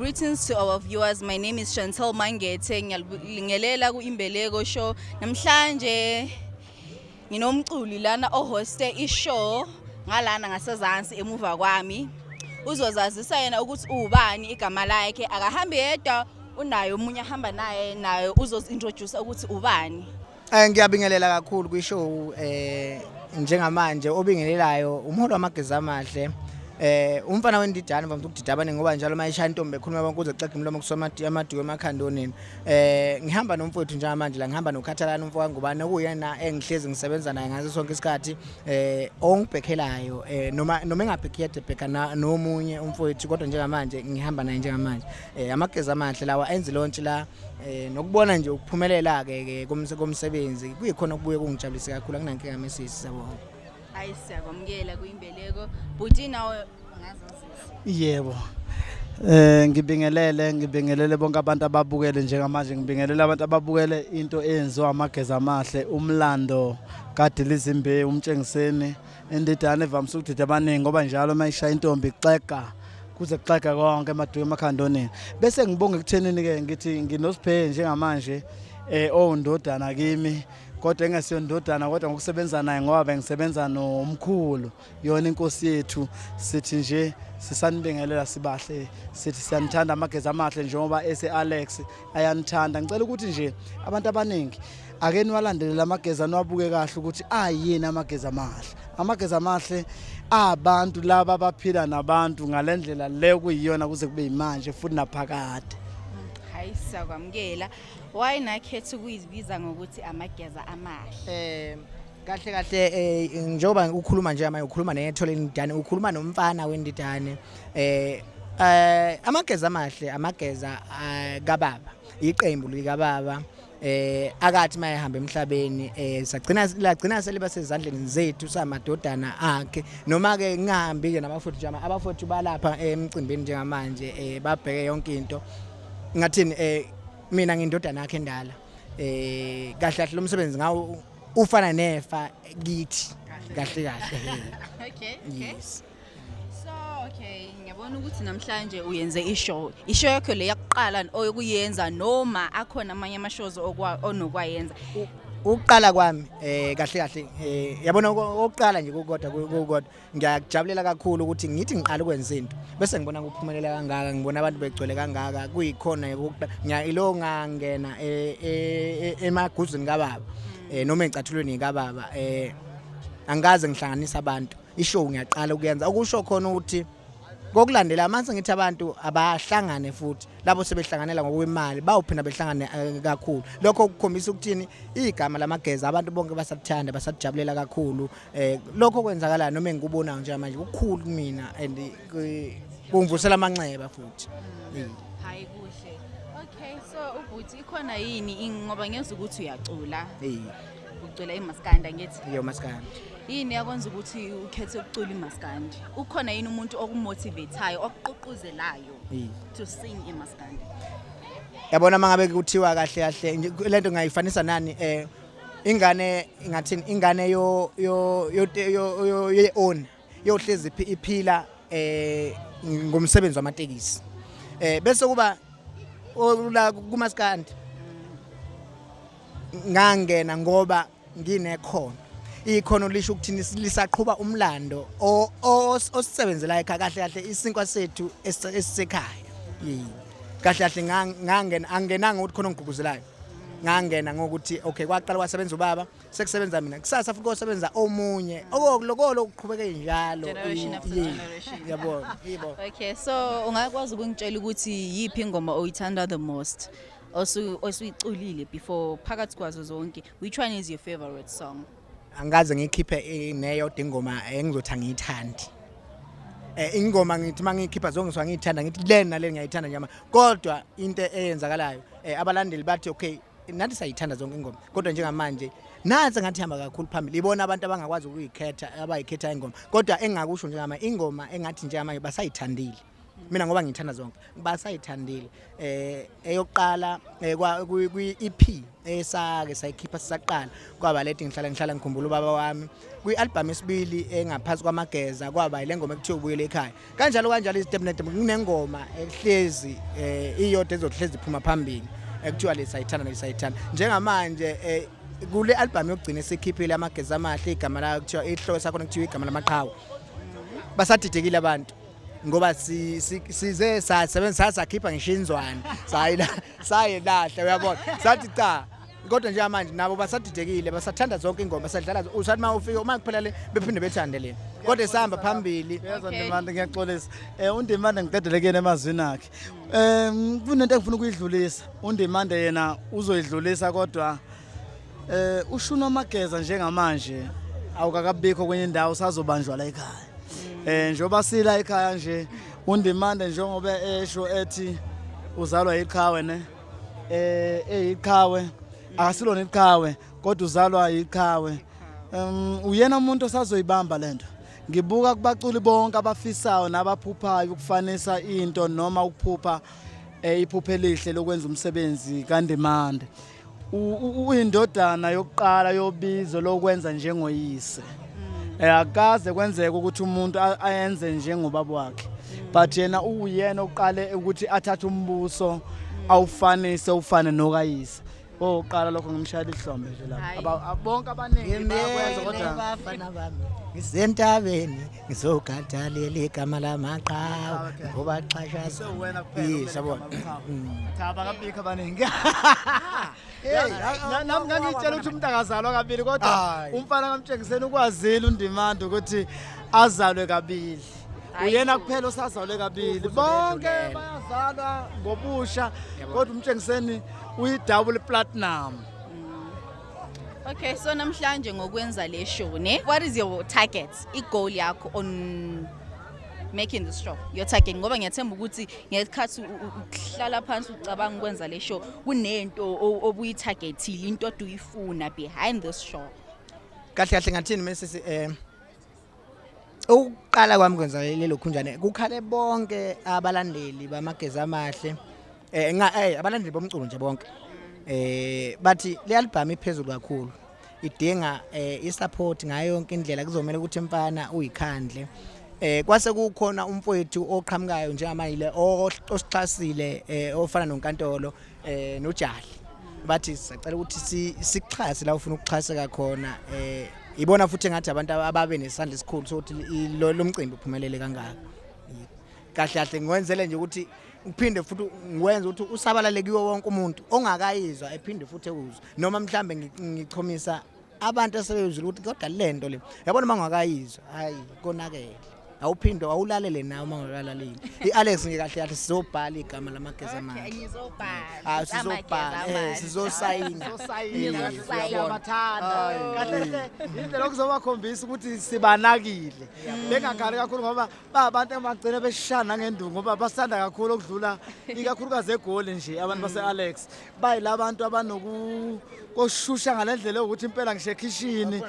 Greetings to our viewers. My name is Chantel Mangethe. Ngiyalibingelela ku-Imbeleko Show. Namhlanje Nginomculi lana ohoste ishow ngalana ngasezansi emuva kwami. Uzozazisa yena ukuthi ubani igama lakhe akahambi yedwa unayo omunye ahamba naye nayo uzozintroduce ukuthi ubani. Eh ngiyabingelela kakhulu kwishow eh njengamanje obingelelayo umholi wamageza amahle eh umfana wendidane vamthu ukudida abaningi ngoba njalo mayishaya intombi ekhuluma bonke uze xexa imlomo kusoma amadiwe emakhandonini eh ngihamba nomfowethu njengamanje la ngihamba nokhathalana umfo kaNgubane okuyena engihlezi ngisebenza naye ngaso sonke isikhathi eh ongibhekhelayo eh noma noma engabhekhiyade bheka nomunye umfowethu kodwa njengamanje ngihamba naye njengamanje eh amageza amahle lawa enze lontshi la eh nokubona nje ukuphumelela ke komsebenzi kuyikhona okubuye kungijabulise kakhulu akunankinga mesisi sabona hayi siyakwamukela kuyimbeleko bhuti nawe ungazazisa yebo Eh ngibingelele ngibingelele bonke abantu ababukele njengamanje ngibingelele abantu ababukele into eyenziwa amageza amahle umlando kadilizimbe umtshengiseni indidane evamise ukudida abaningi ngoba njalo mayishaya intombi xega kuze kuxega konke emaduke emakhandoneni bese ngibonga ekuthenini ke ngithi nginosiphe njengamanje eh owundodana kimi kodwa engesiyo ndodana kodwa ngokusebenza naye ngoba bengisebenza nomkhulu yona inkosi yethu sithi nje sisanibingelela sibahle sithi siyanithanda amagezi amahle njengoba ese-alex ayanithanda ngicela ukuthi nje abantu abaningi ake niwalandelele amagezi aniwabuke kahle ukuthi ayini amagezi amahle amagezi amahle abantu laba abaphila nabantu ngale ndlela le kuyiyona kuze kube yimanje futhi naphakade hayi siyakwamukela Why nakhetha ukuyibiza ngokuthi amageza amahle? Eh kahle kahle eh njengoba ukhuluma nje manje ukhuluma nethole indidane ukhuluma nomfana wendidane eh eh amageza amahle amageza eh, kababa iqembu likababa eh akathi mayehamba emhlabeni eh sagcina lagcina seliba sezandleni zethu samadodana akhe noma ke ngihambi ke nabafowethu jama abafowethu balapha emcimbini njengamanje eh babheke yonke into ngathini eh mina ngindodana yakhe endala eh kahle kahle lo msebenzi ngawo ufana nefa kithi kahle kahle okay okay yes so okay ngiyabona ukuthi namhlanje uyenze ishow ishow yakho le yakuqala oyokuyenza noma akhona amanye ama shows onokwayenza ukuqala kwami eh kahle kahle eh yabona okuqala nje kokodwa kokodwa ngiyakujabulela kakhulu ukuthi ngithi ngiqala ukwenza into bese ngibona kuphumelela kangaka ngibona abantu begcwele kangaka kuyikhona ilo ngangena e, e, e, emaguzini kababa um noma eyicathulweni kababa um angikaze ngihlanganisa abantu ishow ngiyaqala ukuyenza okusho khona ukuthi kokulandela manje ngithi abantu abahlangane futhi labo sebehlanganela ngokwemali bawuphina behlangane eh, kakhulu lokho kukhombisa ukuthini igama lamageza abantu bonke basathanda basajabulela kakhulu Eh lokho kwenzakala noma engikubonayo nje manje kukhulu kumina and kungivusela amanxeba futhi. Hayi kuhle. Okay so ubhuti ikhona yini ngoba ngiyeza ukuthi uyacula. Eh. Ucula imaskanda ngithi. Yo maskanda. yini yakwenza ukuthi ukhethe ukucula imaskandi ukhona yini umuntu okumotivateayo okuququzelayo to sing imaskandi yabona mangabe kuthiwa kahle kahle lento ngayifanisa nani eh ingane ingathini ingane yo yo yo ye own yohlezi iphila eh ngomsebenzi wamatekisi eh bese kuba la kumaskandi ngangena ngoba nginekhono ikhono lisho ukuthini lisaqhuba umlando osisebenzela ekhaya kahle kahle isinkwa sethu esisekhaya kahle kahle ngangena angenanga ukuthi khona ngiguguzelayo ngangena ngokuthi okay kwaqala kwasebenza ubaba sekusebenza mina kusasa futhi kosebenza omunye okulokolo ukuqhubeke njalo yabo yibo okay so ungakwazi ukungitshela ukuthi yipi ingoma oyithanda the most osuyiculile before phakathi kwazo zonke which one is your favorite song angikaze ngikhiphe eh, neyodwa ingoma engizothi angiyithandi eh ingoma ngithi mangikhipha zongiswa ngiyithanda ngithi lena le ngiyayithanda nyama kodwa into eyenzakalayo eh abalandeli bathi okay nathi sayithanda zonke ingoma kodwa njengamanje nansi ngathi hamba kakhulu phambili ibona abantu abangakwazi ukuyikhetha abayikhetha ingoma kodwa engakusho njengama ingoma engathi njengamanje basayithandile mina ngoba ngithanda zonke basayithandile eh eyokuqala eh, kwi EP esake sayikhipha sisaqala kwaba leti ngihlala ngihlala ngikhumbula ubaba wami kwi album esibili engaphansi kwamageza kwaba ile ngoma ekuthiwa ubuyele ekhaya kanjalo kanjalo izitep nedem kunengoma ehlezi eh, iyodwa ezohlezi iphuma phambili ekuthiwa lesayithanda lesayithanda njengamanje eh, kule album yokugcina esikhiphile amageza amahle igama layo kuthiwa ihloko sakho kuthiwa igama lamaqhawe basadidekile abantu ngoba size sasebenzisa sakhipha ngisho inzwane sayila sayelahla uyabona sathi cha kodwa nje manje nabo basadidekile basathanda zonke ingoma sadlala usathi uma ufika uma kuphela le bephinde bethande lena kodwa esihamba phambili yezwa ndimanda ngiyaxolisa um undimanda ngiqedele kuyena emazwini akhe um kunento engifuna ukuyidlulisa undimanda yena uzoyidlulisa kodwa um ushuna amageza njengamanje awukakabikho kwenye indawo usazobanjwa la ekhaya eh njoba sila ekhaya nje undimande njengoba esho ethi uzalwa iqhawe ne eh eyiqhawe akasilona iqhawe kodwa uzalwa iqhawe um uyena umuntu osazoyibamba lento ngibuka kubaculi bonke abafisayo nabaphuphayo ukufanisa into noma ukuphupha eh, iphuphe elihle lokwenza umsebenzi kandimande uyindodana yokuqala yobizo lokwenza njengoyise mm. eh, akaze kwenzeka ukuthi umuntu ayenze njengobaba wakhe but yena uwuyena oqale ukuthi athathe umbuso mm. awufanise ufane nokayise oqala lokho ngimshayela ihlombe nje lapha bonke abaningi bayakwenza kodwa ngisentabeni ngizogada leli gama lamaqhawe ah, ngoba xhashaza yisabona cha bakabikho abaningi nami ngangitshela ukuthi umuntu akazalwa kabili kodwa umfana kamtshengiseni ukwazile undimanda ukuthi azalwe kabili uyena kuphela osazalwe kabili bonke bayazalwa ngobusha kodwa umtshengiseni uyi-double platinum Okay, so namhlanje ngokwenza le show ne, what is your target? I-goal yakho on making the show. Your target ngoba ngiyathemba ukuthi ngesikhathi u- u- uhlala phansi ucabanga ukwenza le show kunento o- obuyi-targetile, into odu uyifuna behind this show. kahle kahle ngathini mesisi eh ukuqala kwami kwenza lelo khunjane kukhale bonke abalandeli bamageza amahle eh nga eh abalandeli bomculo nje bonke eh bathi leyalibhamu iphezulu kakhulu idinga eh isupport ngayo yonke indlela kuzomela ukuthi mfana uyikhandle eh kwase kukhona umfowethu oqhamukayo njengamanje osixhasile eh ofana nonkantolo eh nojali bathi sacela ukuthi sixhase la ufuna ukuxhaseka khona eh ibona futhi ngathi abantu ababe nesandla esikhulu sokuthi lo mcimbi uphumelele kangaka kahle kahle ngiwenzele nje ukuthi ngiphinde futhi ngikwenza ukuthi usabalale kiwo wonke umuntu ongakayizwa ephinde futhi ewuzwe noma mhlambe ngichomisa abantu asebeyizwile ukuthi kodwa le nto le yabona uma ngakayizwa hhayi konakele awuphinde awulalele nawe uma ngakalaleli i-alex nje kahle kahle sizobhala igama lamageza amanjasizobhala sizosayina indlela okuzobakhombisa ukuthi sibanakile bengakhali kakhulu ngoba ba abantu abagcina beshana nangenduku ngoba basanda kakhulu okudlula ikakhulukazi egoli nje abantu base-alex bayila bantu abanokushusha ngale ndlela yokuthi impela ngisho ekhishini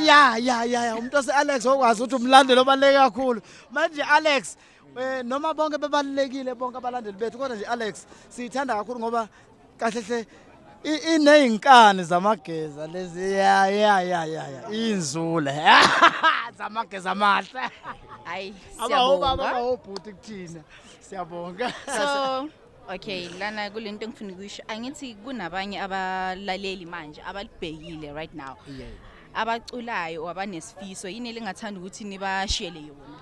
ya ya ya ya umuntu wase-alex okwazi ukuthi umlandeli obaluleke kakhulu manje alex um noma bonke bebalulekile bonke abalandeli bethu kodwa nje alex siyithanda kakhulu ngoba kahle hle ineyinkani zamageza lezi ya ya ya ya inzule zamageza amahle hayi siyabonga abawobhuti kuthina siyabonga so okay lana kulento engifuna ukuyisho angithi kunabanye abalaleli manje abalibhekile right now yeah. abaculayo or abanesifiso yini elingathanda ukuthi nibashiyele yona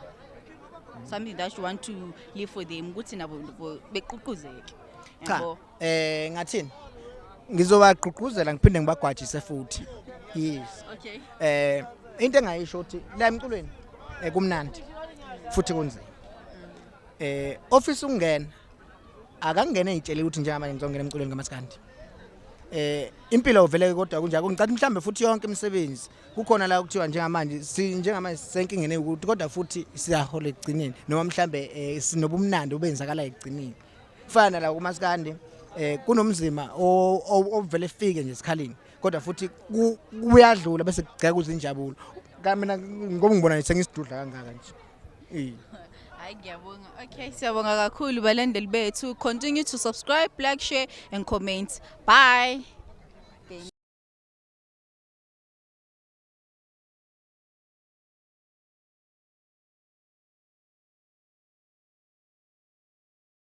something that you want to live for them ukuthi nabo beququzeke cha eh ngathini ngizobagqugquzela ngiphinde ngibagwajise futhi yes okay eh into engayisho ukuthi la emculweni eh, kumnandi futhi kunzima eh office ungena akangene ngitshele ukuthi njengamanje ngizongena emculweni kamaskandi eh impilo uvele kodwa kunjalo ngicatha mhlambe futhi yonke imisebenzi kukhona la kuthiwa njengamanje si njengamanje senkingene ukuthi kodwa futhi siyahola ekugcineni noma mhlambe eh, sinobumnandi obenzakala ekugcineni kufana nala kumasikandi eh kunomzima ovele fike nje esikhaleni kodwa futhi kuyadlula bese kugceka uzinjabulo kamina ngoba ngibona sengisidudla kangaka nje eh hayi ngiyabonga okay siyabonga kakhulu balandeli bethu continue to subscribe like share and comment bye